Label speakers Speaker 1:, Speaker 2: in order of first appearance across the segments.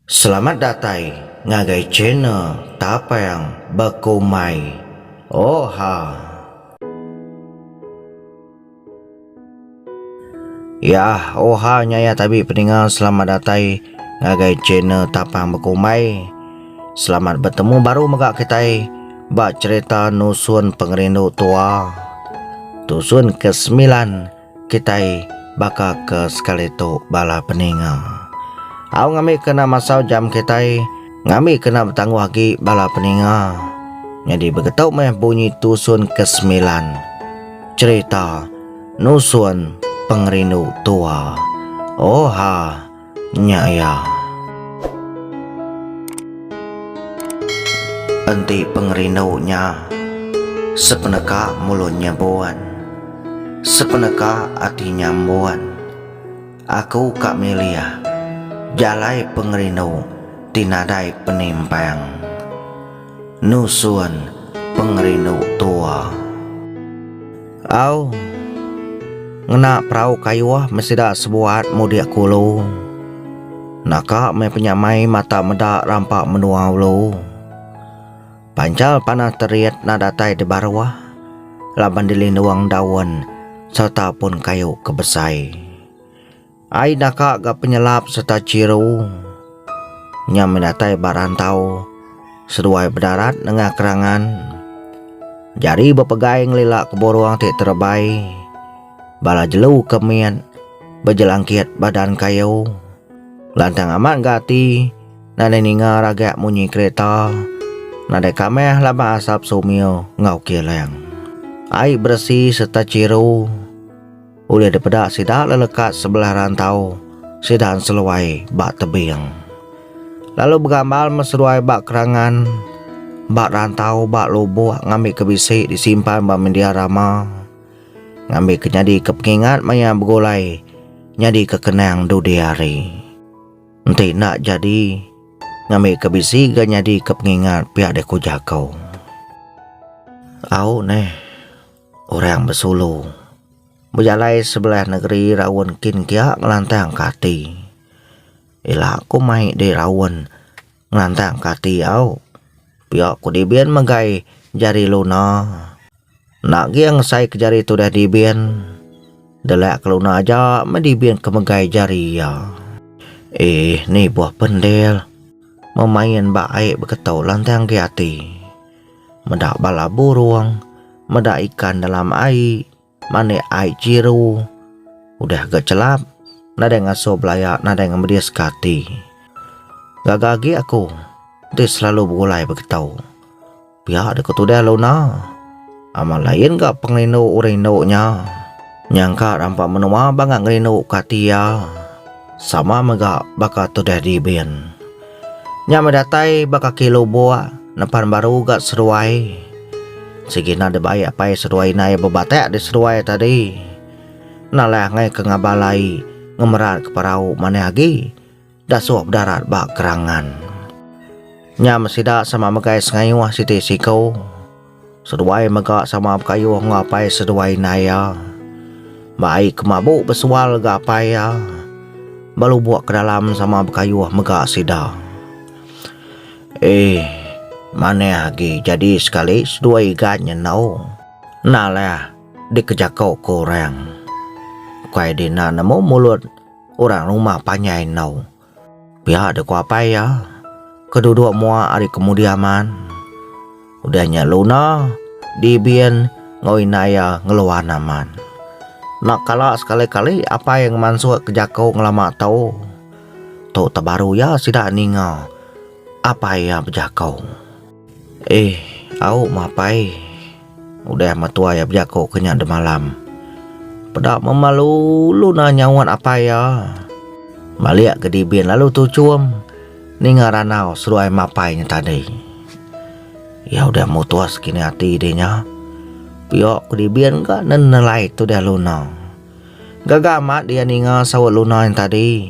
Speaker 1: Selamat datai ngagai channel Tapang Bekumai. Oha. Yah oha nya ya tabi peninga selamat datai ngagai channel Tapang Bekumai. Selamat betemu baru mega kitai ba cherita nusun pengerindu tua. Tusun ke semilan. Kitai baka ke sekali tu bala peninga. Au ngambi kena masau jam kitai ngambi kena betangguh agi bala peninga. Nyadi begetu meh bunyi tusun ke semilan. Cherita nusun pengerindu tua. Oha. Nya iya. Enti pengerindu nya sepeneka mulut nya buan, sepeneka ati nya embuan. Aku ka milih jalai pengerindu ti nadai penimpang. nusun pengerindu tua. Au, ngena perau kayuh meh sida sebuat mudik ke ulu. Naka meh penyamai mata meda rampa menua ulu. Panchal panah terit enda datai dibaruh laban dilindung daun sereta pun kayu ke besai. Ai daka ga penyelap serta chiru nya meh datai ba rantau seduai bedarat nengah kerangan jari bepegai ngelila ke burung ti terebai bala jelu ke mit bejelangkit badan kayu. Lantang amat ga ati nadai ninga ragak munyi kereta nadai kamah laban asap sumio enggau kilang. Ai beresi serta chiru. Ulih dipeda sida lelekat sebelah rantau sida enseluai ba tebing. Lalu begambar meseduai ba kerangan, ba rantau, ba lubuk ngambika bisi disimpan ba mendia rama, ngambika nyadika pengingat maya begulai nyadika kenang dudi hari. Enti enda jadi, ngambika bisi ga nyadika pengingat pia deh ku jaku. Au neh orang besulu. Bejalai sebelah negeri raun kin kia ngelantang ke ati. Ila ku mai di raun ngelantang ke ati au. Pia ku Dibin megai jari Luna. Enda agi iya ngesai ke jari tudah Dibin. Delak ke Luna aja meh Dibin ke megai jari iya. Eh nibuh pendil. Memain ba ai beketo lantang agi ati. meda bala burung, meda ikan dalam ai, manik ai jiru. Udah ga chelap, nadai ngasuh belaya, nadai ngemediska ati. Gaga agi aku enti selalu begulai begitu. Pia deka tudah Luna. Amat lain ga pengerindu orang indu nya. Nyangka rampa menua bangah ngerindu ka ati iya sama mega baka tudah Dibin. Nya meh datai ba kaki lubok nepan baru ga seruai. Sigi enda dibai apai seduai inai bebatek di seduai tadi. Enda leh angai ke ngabal ai ngemerat ke parau manah agi. Dasuk bedarat ba kerangan. Nyam sida sama megai sengayuh siti siku. Seduai mega sama bekayuh enggau apai seduai indai iya. Ba ai ke mabu besual ga apai iya. Belubuk ke dalam sama bekayuh mega sida. Eeh manah agi jadi sekali seduai igat nya enau. Endaleh dikejako ke orang. Ukai dina nemu mulut. Orang rumah panjai enau. Pia dek ku apai iya ke duduk mua ari kemudi aman. Udah nya Luna, Dibin enggau indai iya ngeluan aman. Enda kala sekali-kali apai ngemansuk ke jaku ngelama tu. Tu teh baru iya sida ninga apai iya bejaku. Eeh, au mapai. Udah amat tuai iya bejaku ke nya demalam. Peda memal ulu na nyauat apai iya. Malik ke Dibin lalu tuchum ninga randau seduai mapai nya tadi. Iya udah mutus kini ati dih nya. Pia ku Dibin ka nenelai tudah Luna. Gaga amat iya ninga saut Luna nya tadi.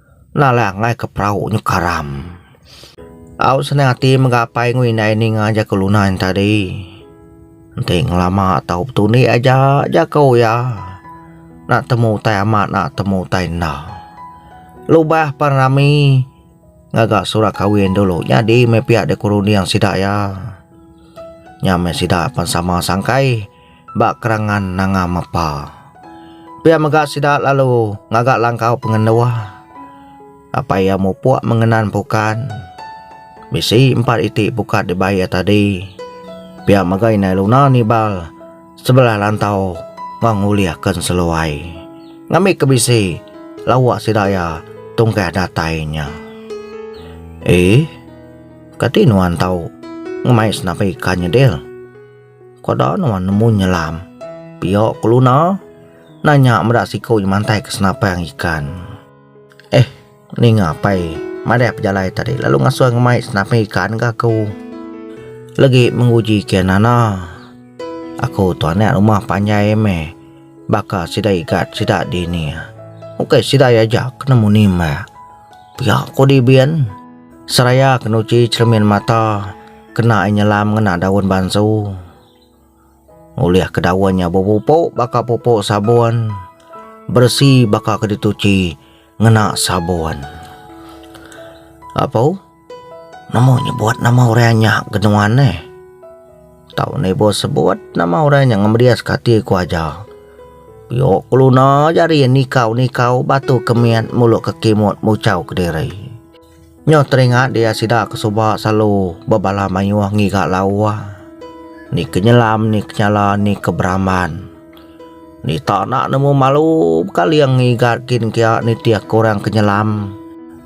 Speaker 1: Enda alai angai ke perau nyu karam. Au senang ati mega apai ngui indai ninga jaku luna nya tadi. Enti ngelama tau betundi aja jaku iya. Enda temu utai amat enda temu utai enda. Lubah pen rami ngaga surat kawin dulu nyadi meh pia dikerunding sida iya. Nya meh sida pen sama sangkai. ba kerangan Nanga Mapa. Pia mega sida lalu ngaga langkau pengenduh. Apai iya mupuk mengenan pukat. Bisi empat iti pukat dibai iya tadi. Pia mega indai Luna nibal sebelah lantau enggau ngulihka seluai. Ngambika bisi lauk sida iya tungkah datai nya. Ee, kati nuan tau ngemai senapi ka nya, Dil? Keda nuan nemu nyelam. Pio keluna nanya meda siku nya mantai ke senapang ikan. Eh ninga pai madah pejalai tadi lalu ngasoi ngemai senapang ikan ga aku. Legi menguji kian nana. Aku tu anak rumah panjai meh baka sida igat sida dini. Ukai sida iya aja ke nemu nimba. Pia ko di bin seraya ke nuchi cermin mata. Kena ai nyelam ngena daun bansu. Ngulihka daun nya bepupuk baka pupuk sabun, beresi baka ke dituchi ngena sabun. Apu, nemu nyebut nama orang anyah ke nuan neh. Tau ne ibuh sebut nama orang nya ngemediska ati ku aja. Pio keluna aja ari iya nikau-nikau batu ke mit mulu ke kimut muchau kediri. Nyau teringat dia sida ke suba selalu bebalah mayuh ngiga lauh, ni ke nyelam, ni ke nyala, ni ke beramban. Dita enda nemu malu bekaling ngiga kin kia nitih ke orang ke nyelam.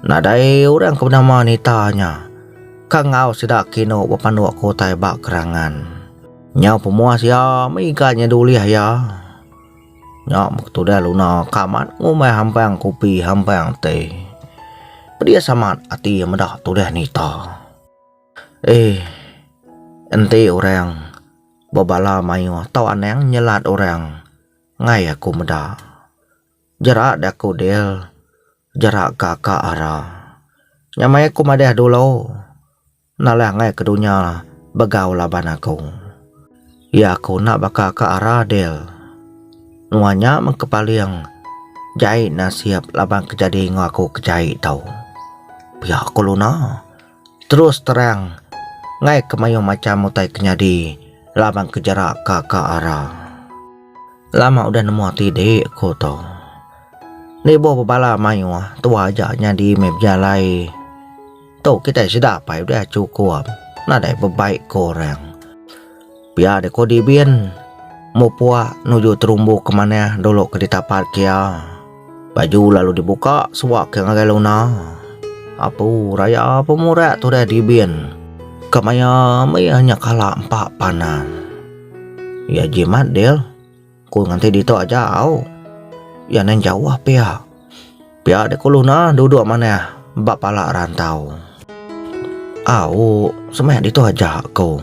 Speaker 1: Nadai orang ke benama Nita nya ka enggau sida ke inu bepanduk ke utai ba kerangan. Nyau pemuas iya mega nya dulih iya. Nya meh ketudah Luna ka amat ngumbai hampang kopi hampang teh. Pedis amat ati iya meda tudah Nita. Eh, enti orang bebala mayuh tau anang nyelat orang enggai aku meda. Jerak deh aku Dil, jerak ka ka Ara. Nya meh aku madah dulu. Nalai angai ke dunya begau laban aku. Ya aku enda baka ka ara Dale. Nuan nya meng kepaling jai nasib laban ke jadi enggau aku ke jai tau. Pia ku Luna terus terang ngai ke mayuh macham utai ke nyadi laban ke jerak ka ka ara. Lama udah nemu ati dik aku tu. Enda ibuh bebala mayuh tua aja nyadi meh bejalai. Tu kitai sida apai udah chukup nadai bebaik ke orang. Pia deh ko Dibin mupuk nuju terumbu ke manah dulu ke ditapat ke iya. Baju lalu dibuka suba ke ngagai Luna. Apu raya pemurak tudah Dibin ke maya mih iya nyekala empa panan. Iya jimat Dil. Ku nganti ditu aja au. Iya neh jauh pia. Pia dek kulu nah duduk manah ba pala rantau. Au, semak ditu aja ko.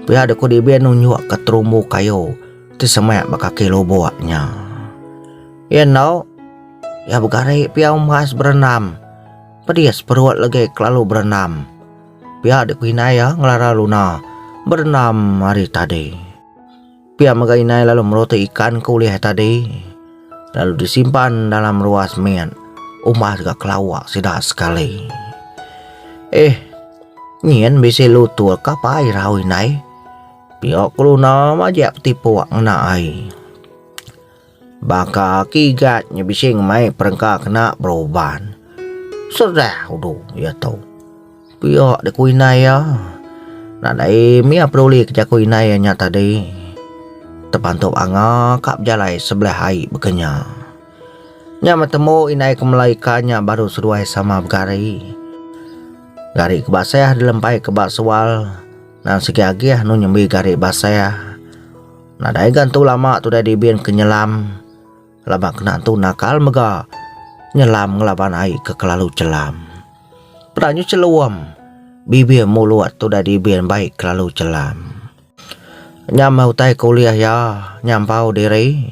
Speaker 1: Pia dek ku Dibin nunjuk ke terumbu kayu ti semak ba kaki lubok nya. Iya eno, iya begari pia umbas berenam. Pedis perut legi kelalu berenam. Pia dek ku indai iya ngelara luna berenam ari tadi. Pia mega indai lalu meruti ikan ke ulih tadi lalu disimpan dalam ruas mit umbah deka kelawa sida sekali. Eh, nyin bisi lutur ke apai rau indai. Pia keluna majak petipuk ngena ai. Baka ke igat nya bisi ngemai perengka kena beruban. Serah udu iya tu. Pia dek ku indai iya. Nadai meh iya peduli ke jaku indai iya nya tadi. Tepantu Anga ka bejalai sebelah ai bekenya. Nya betemu indai ke melai ka nya baru seduai sama begari. Gari ke basah dilempai ke ba sual nan segi agih anu nyembi gari basah. Nadai ga entu lama Tudai Dibin ke nyelam laban kena entu nakal mega nyelam ngelaban ai ke kelalu chelam. Peda nyu chelum, bibir mulut Tudai Dibin baik kelalu chelam. Nya meh utai ke ulih iya nyampau diri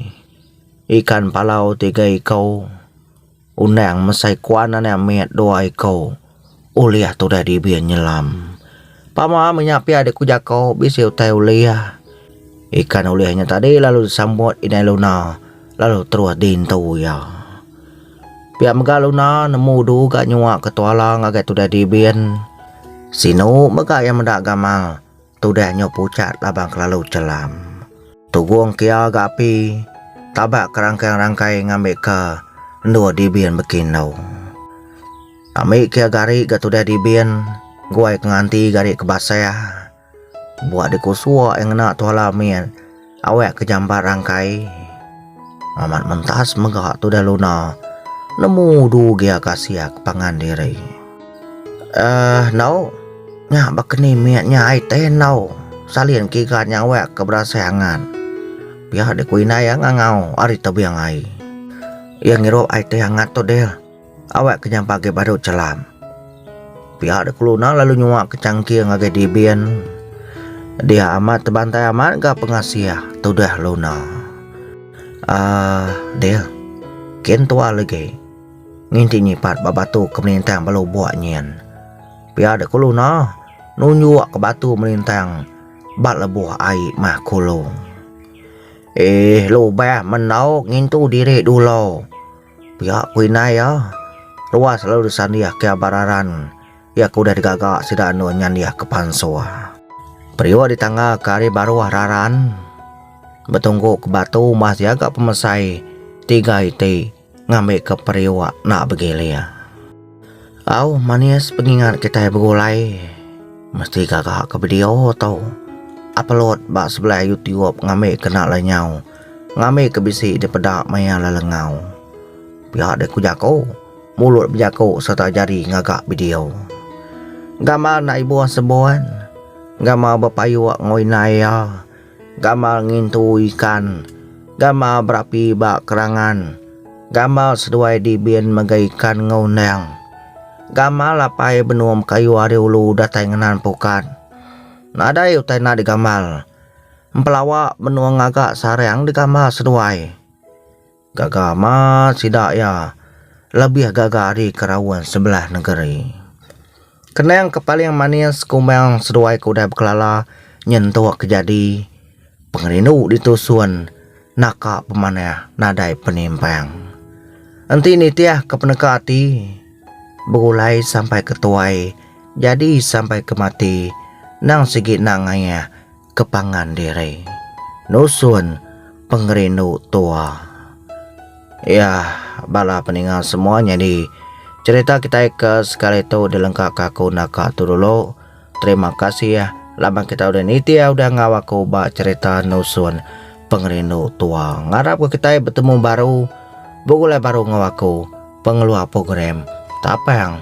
Speaker 1: ikan palau tiga iku. Undang mesai kuan anak mit dua iku ulih tudah dibi nyelam. Pama menya pia dek ku jako bisi utai ulih. Ikan ulih nya tadi lalu disambut indai Luna lalu terus dintu iya. Pia mega Luna nemu du ga nyua ke tuala ngagai tudah dibin. Sinu mega iya meda gamal. Tudah nyu pucat labang kelalu chelam. Tugung kia ga api taba ke rangkai-rangkai ngambi ke endur dibin beki endu. Ambi kia gari ga tudah dibin guai ke nganti gari ke basah buak di kusua ia ngena tuala min. Awek ke jambat rangkai. Amat mentas mega tudah luna. Nemu du gia ka sia ke pangan diri. Uh, nau. Nya bakeni mit nya ai teh nau. Salin ke iga nya awek ke berasai angat. Pia di ku indai ya ngangau ari tebing ai. Ia ngirup ai teh angat tu deh. Awak ke nyampa agi baru chelam. Pia de keluna lalu nyuwa ke changking agi dibin. Dia amat tebantai amat ga pengasih tudah luna. Aah dia. Kin tua legi. Nginti nyipat ba batu ke melintang ba lubok nyin. Pia de keluna nunjuk ke batu melintang ba lebuh ai mah kulu. Eeh lubah mendau ngintu diri dulu. Pia ku indai iya, Roa selalu disandih ke abar aran iya ke udah digaga sida andu nyandih ke pansor. Periuk ditangga ke ari baruh raran betunggu ke batu mas iya ga pemesai tiga iti ngambi ke periuk nak begilir. Au manis pengingat kitai begulai mesti gaga ke bedio tu. Apelut ba sebelai Youtube ngambi ke enda alai nyau. Ngambi ke bisi dipeda maya lelengau. Pia deh ku jaku, mulut bejaku sereta jari ngaga bedio. Gamal enda ibuh sebon, gamal bepayuk enggau indai iya. Gamal ngintu ikan. Gamal berapi ba kerangan. Gamal seduai dibin mega ikan enggau endang. Gamal apai benung kayu ari ulu datai ngenan pukat. Nadai utai enda digamal. Empelawa benung ngaga sarang digamal seduai. Gaga amat sida iya, lebih gaga ari ke raun sebelah nengeri. Kenang ke paling manis kumbang seduai ke udah bekelala nyentuk ke jadi pengerindu ditusun naka pemanah nadai penimpang. Enti nitih ke peneka ati, begulai sampai ke tuai, jadi sampai ke mati, nang sigi nang ngayah. ke pangan diri nusun pengerindu tua. Iya bala peninga semua nyadi cerita kitai ke sekali tu dilengka ka aku enda ka tu dulu. Terima kasih laban kitai udah niti udah enggau aku ba cerita nusun pengerindu tua. Ngarap ke kitai betemu baru begulai baru enggau aku pengeluar program tapang.